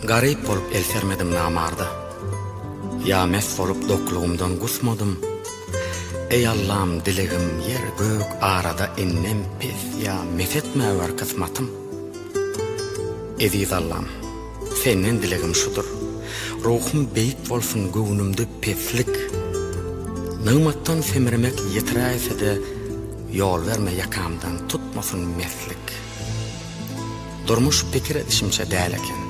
Garyp bolup el sermedim namarda Ýa mes bolup doklugymdan gusmadym Eý Allam dilegim ýer gök arada Innem pes ýa mes etmäwer kysmatym Eziz Allam senden dilegim şudur Ruhum beýik bolsun göwnümde peslik Nygmatdan semremek ýetiräýse-de Ýol berme ýakamdan tutmasyn meslik. Durmuş pikir edişimçe däl eken.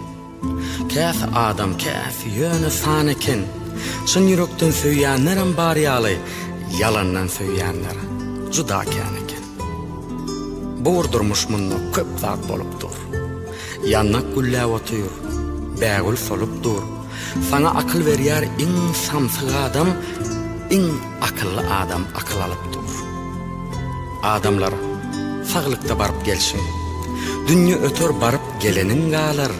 Käsi adam, käsi ýöne san eken. Çyn ýürekden söýýänlerem bar ýaly, ýalandan söýýänler juda kän eken. Bu bir durmuş munda köp zat bolup dur. Ýandak gülläp otyr, bägül solup dur. Saňa akyl berýär iň samsyk adam, iň akylly adam akyl alyp dur. Adamlar, saglykda baryp gelşiň. Dünýe öter baryp geleniň galar.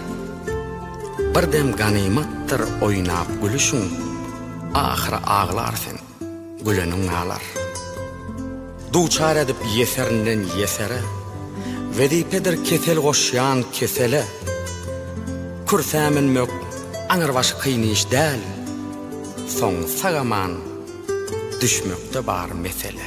Bir dem ganymatdyr oýnap gülüşiň, ahyry aglar sen. Güleniň nalar. Duçar edip ýeserinden ýesere, Wezipedir kesel goşýan kesele. Kürsä münmek aňyrbaşy kyn iş däl, Soň sag-aman düşmekde bar mesele.